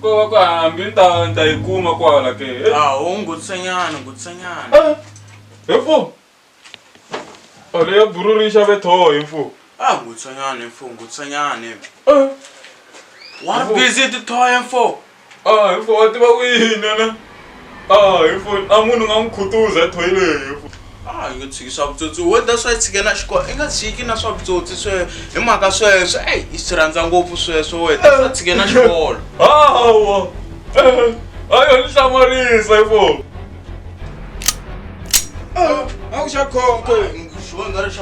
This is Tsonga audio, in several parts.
Ko ko hambi ni ta ni ta yi kuma kwala ke. Eh, Ah, u ngutsenyana, ngutsenyana. ah, He mfo. Ale ya bururisa ve tho hi mfo. Ah, ngutsenyana mfo, ngutsenyana. Eh, Wa Mfo. busy ti thoya mfo. ah, hi mfo wa tiva ku yini na. a a munhu nga n'wi khutuza ethoyileti a yi nga tshiki swa vutsotsi wo ta swa yi tshikela xikolo i nga tshiki na swa vutsotsi swe hi mhaka sweswo eyi i swi rhandza ngopfu sweswo we ta swa tshikela xikolo hawa a yo ni hlamarisa hi fo a ku xa khonke xivangelo xa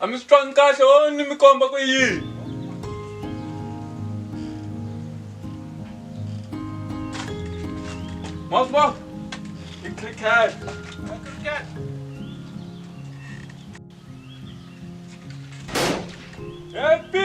A mi swi twangi kahle o ni mi komba ku yini? Ma swi vona? I cricket. Happy!